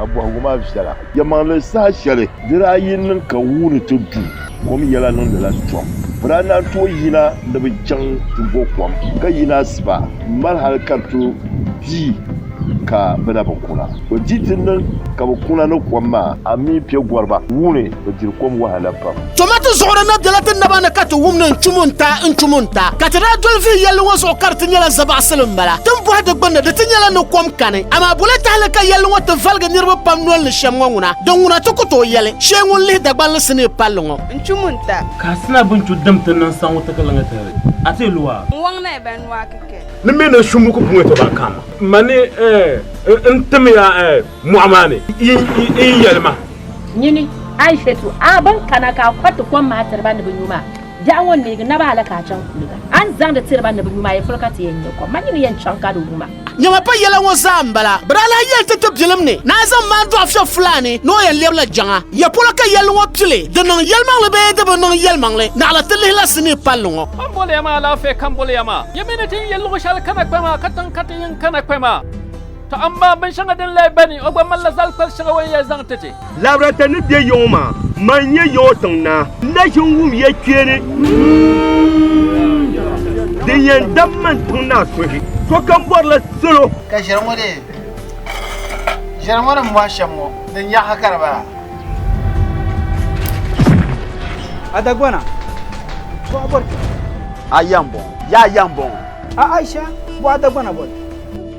A bɔhigu maa viɛla. Yɛlimaŋli saha shɛli di daa yi niŋ ka wuu ni ti du, kom yɛla niŋdila tɔm. Bɛ daa naan tooi yina ni bɛ chaŋ ti bo kom, ka yina asiba m-mali hal ka di tooi pii ka bɛ na bi kuna. Bɛ di ti niŋ ka bɛ kuna ni kom maa, a mi piɛ gɔriba wuu ni. bɛ diri kom wahala pam. Toma ti zuɣuri na bela ti naba ni ka ti wum ni n-chum n-ta, n-chum n-ta. Ka ti daa doli vihi yɛlli ŋɔ zuɣu ka di ti nyɛla zabaɣisili m-bala. Ti ni bɔhi di gbunni di ti nyɛla ni kom kani. Amaa bole tahili ka yɛlli ŋɔ ti valigi niriba pam noli ni shɛm ŋɔ ŋuna? Di ŋuna ti ku tooi yɛli, Shee ŋun lihi Dagbanli sinii palli ŋɔ. N-chum n-ta. Ka a sina bini chu dim ti niŋ saŋu ti ka liŋa tihiri a ti lu a. N-wɔŋ na bɛ nua kike. Ni mɛ na shumbu ku puŋɛ tɔba a kaama. Ma ni, eh, n-tim ya, eh. mɔɣu maa ni n yi yɛli ma. Nyini, Aishatu, a bɛn kana ka a kɔriti kom maa tiri ba ni bɛ nyu maa, biɛɣu ŋɔ n-neegi naba hali ka a chaŋ kuliga. A ni zaŋdi tiri ba ni bɛ nyu maa, yi fuli ka ti yɛn nya kom maa, nyini yɛn chaŋ ka di wu ma. Nyama pa yɛla ŋɔ zaa m-bala. Bira lahi yɛli ti ti bilim ni ni a zaŋ ma n-dɔɣi Fɛb Fulaani ni o yɛn lɛbila jaŋa. Ya polo ka yɛlli ŋɔ pili, di niŋ yɛlimaŋli bee di bi niŋ yɛlimaŋli, naɣila ti lihila sinii palli ŋɔ. Ka m boli ya maa alaafee ka m boli ya maa. Ya mi ni ti yi yɛl luɣ shɛli kana kpɛma, katiŋ ka ti yi n-kana kpɛma. To amaa binshɛŋa din lee gba ni, o gba malila zal kpal shɛŋa o ni yɛn zaŋ ti ti. Labra ti ni be yaŋɔ maa, mani n-nyɛ yaŋɔ tiŋ naa. N na ʒin wum ya kpeeni. Din yɛn dam man tiŋ naa suhi, sokam bɔrila salo. Ka ʒiɛri ŋɔ dee? Ʒiɛri ŋɔ ni m bɔhi shɛm ŋɔ, din nyɛ ha ka di bala? A Dagbana, bɔɣa bɔri ti? A ya m-bɔŋɔ, yaa ya m-bɔŋɔ. A Aisha, bɔɣa Dagbana bɔri?